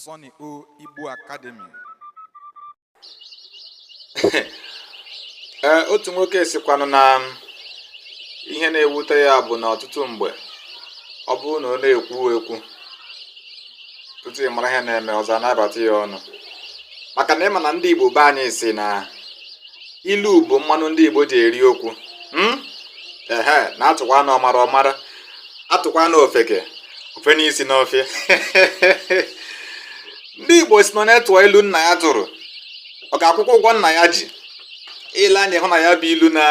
Sonny O Igbo Academy ee otu nwoke sikwanụ na ihe na-ewute ya bụ na ọtụtụ mgbe ọ bụrụ na ọ na-ekwu ekwu tutu ị mara ihe na-eme ọzọ a na-abata ya ọnụ maka na ị ma na ndị Igbo be anyị si na ilu bụ mmanụ ndị Igbo ji eri okwu hmm? ehe na a tụkwanụ ọmara ọ mara a tụkwanụ ofeke o fenye isi n'ọfịa ndị Igbo si na onye tụọ ilu nna ya tụrụ ọ ga-akwụkwa ụgwọ nna ya ji i lee anya hụ na ya bụ ilu na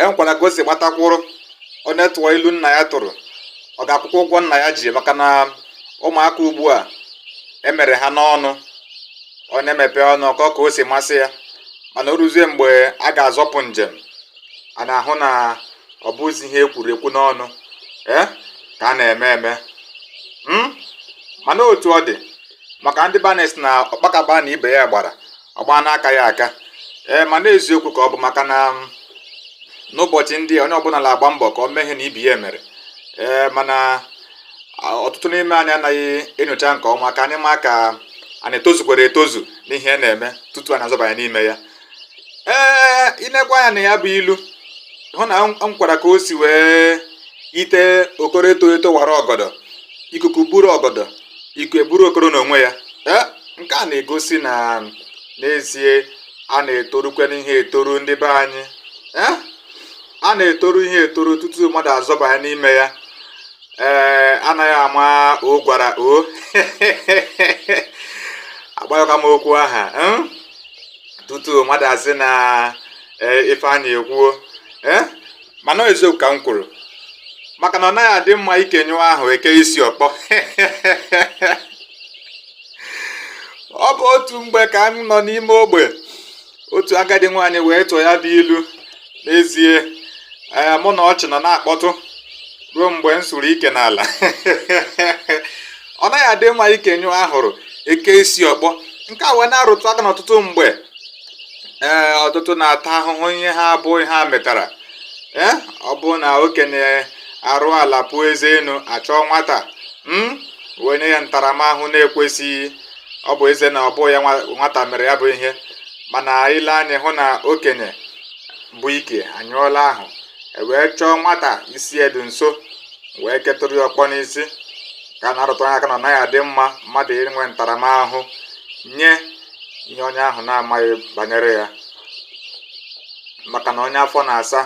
enwekwara ka o si gbatakwụrụ onye tụọ ilu nna ya tụrụ ọ ga-akwụkwa ụgwọ nna ya ji maka na ụmụaka ugbu a emere ha n'ọnụ onye mepee ọnụ ọ kọọ ka o si masị ya mana o ruzie mgbe a ga-azọpụ njem a na-ahụ na ọ bụzi ihe ekwuru ekwu n'ọnụ ee eh, ka a na-eme eme hmm? mana otu ọ dị maka ndị be anyị sị na ọkpakaba na ibe ya gbara ọgba n'aka ya aka ee eh, mana eziokwu ka ọ bụ maka na hmm, n'ụbọchị ndị a onye ọbụla na-agba mbọ ka o mee ihe na ibe ya mere ee eh, mana ọtụtụ n'ime anyị anaghị enyocha nke ọma ka anyị ma ka anyị etozukwara etozu n'ihe na-eme tutu anyị azọbanye n'ime ya ee i nekwaa anya na ya bụ ilu hụ na enwekwara ka o si wee yite okoro eto eto wara ọgọdọ ikuku buru ọgọdọ ikuku eburu okoro n'onwe ya ee nke a na-egosi na n'ezie a na-etorukwanụ ihe etoru ndị be anyị ee a na-etoru ihe etoru tutu mmadụ azọbanye n'ime ya ee anaghị ama o gwara o agbayọka m okwu aha hmm? tutu mmadụ asị na eh, ife a na-ekwuo eh? mana eziokwu ka m kwuru maka na ọ naghị adị mma ike nyụọ ahụ e kee isi ọkpọ ọ bụ otu mgbe ka m nọ n'ime ogbe otu agadi nwaanyị wee tụọ ya bụ ilu n'ezie ee mụ na ọchị nọ na-akpọtụ ruo mgbe m sụrụ ike n'ala ọ naghị adị mma ike nyụọ ahụrụ e kee isi ọkpọ nke a wee na-arụtụ aka na ọtụtụ mgbe ee ọtụtụ na-ata ahụhụ ihe abụghị ihe ha metara ee ọ bụ na okenye arụọ ala pụọ eze enu a chọọ nwata wee nye ya ntaramahụhụ na-ekwesịghị ọ bụ ezie na ọ bụ ya nwata mere ya bụ ihe mana ile anya hụ na okenye bu ike anyụọla ahụ e wee chọọ nwata isi ya dị nso wee ketụrụ ya ọkpọ n'isi nke a na-arụtụ aka na ọ naghị adị mma mmadụ inwe ntaramahụhụ nye ihe onye ahụ na-amaghị banyere ya maka na onye afọ na-asa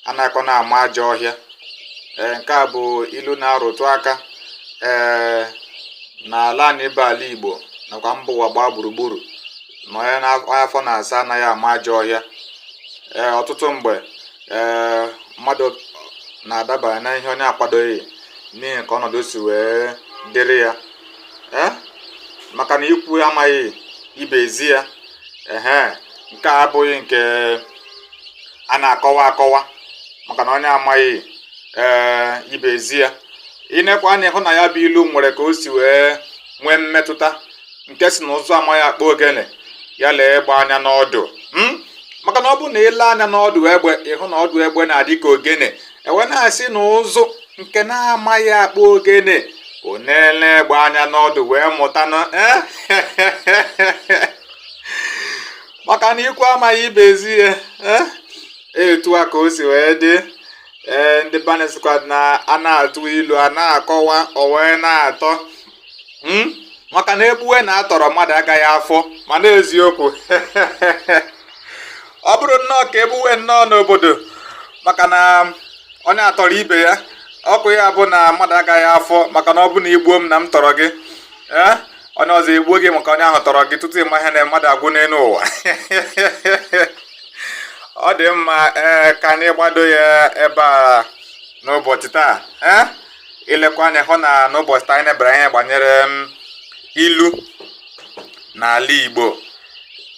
anaghị na-ama ajọ ọhịa ee nke a bụ ilu na-arụtụ aka ee na ala anyị bụ ala igbo nakwa mba ụwa gbaa gburugburu na onye na- onye afọ na-asa anaghị ama ajọ ọhịa ee ọtụtụ mgbe ee mmadụ na-adabanye na ihe onye akwadoghị n'ihi ka ọnọdụ si wee dịrị ya ee maka na ikwu amaghị ibe ezi ya ehe nke a abụghị nke a na-akọwa akọwa maka na onye amaghị ee ibe ezi ya inekwa anya hụ na ya bụ ilu nwere ka o si wee nwee mmetụta nke sị na ụzụ amaghị akpụ ogene ya lee egbe anya n'ọdụ hmm? maka na ọ bụ na ile anya n'ọdụ egbe ịhụ na ọdụ egbe na-adị ka ogene e wee na-asị na ụzụ nke na-amaghị akpụ ogene ọ na-ele egbe anya n'ọdụ wee mụta na eh? maka na ikwu amaghị ibe ezi ya e, etu a ka o si wee dị ee ndị be anyị sịkwa na a na-atụ ilu a na-akọwa o wee na-atọ hmm? maka na e gbuwe n'atọrọ mmadụ agaghị afọ mana eziokwu ọ bụrụ nnọọ ka e gbuwe nnọọ n'obodo maka na onye atọrọ ibe ya ọ ga-abụ na mmadụ agaghị afọ maka na ọ bụ na i gbuo m na m tọrọ gị ee onye ọzọ egbuo gị maka onye ahụ tọrọ gị tutu ị ma ihe na mmadụ agwụ n'elu ụwa ọ dị mma ee ka anyị gbado ya ebe a n'ụbọchị taa ee ilekwa anya hụ na n'ụbọchị taa anyị nebere anya gbanyere mm, ilu n'ala Igbo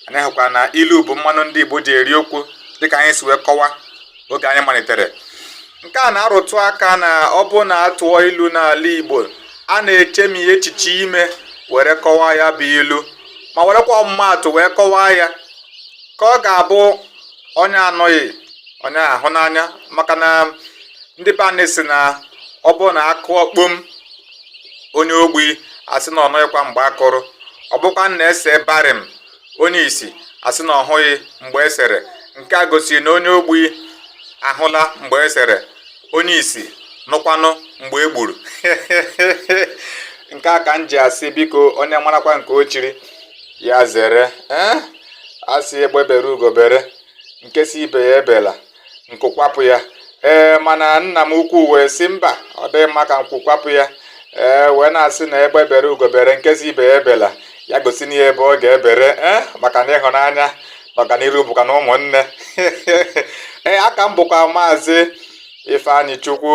anyị hụkwa na ilu bụ mmanụ ndị Igbo ji eri okwu dịka anyị si wee kọwa oge anyị malitere nke a na-arụtụ aka na ọ bụrụ na a tụọ ilu n'ala Igbo a na-echemi echiche ime were kọwaa ya bụ ilu ma werekwa ọmụmaatụ wee kọwaa ya ka ọ ga-abụ onye anụghị onye ahụ n'anya maka na ndị be anyị sị na ọ bụrụ na a kụọ kpom onye ogbi asị na ọ nụghịkwa mgbe a kụrụ ọ bụkwa na e see barim onye isi asị na ọ hụghị mgbe e sere nke a gosiri na onye ogbi ahụla mgbe e sere onye isi nụkwanụ mgbe e gburu nke a ka m ji asị biko onye marakwa nke o chiri ya zere ee a sị egbe bere ugo bere nke sị ibe ya ebela nku kwapụ ya ee mana nna m ukwu wee sị mba ọ dịghị mma ka nku kwapụ ya ee wee na-asị na egbe bere ugo bere nke sị ibe ya ebela ya gosinụ ya ebe ọ ga-ebere ee maka na ịhụnanya na ọganiru bụkwa na ụmụnne ee aha m bụkwa maazị ifeanyị chukwu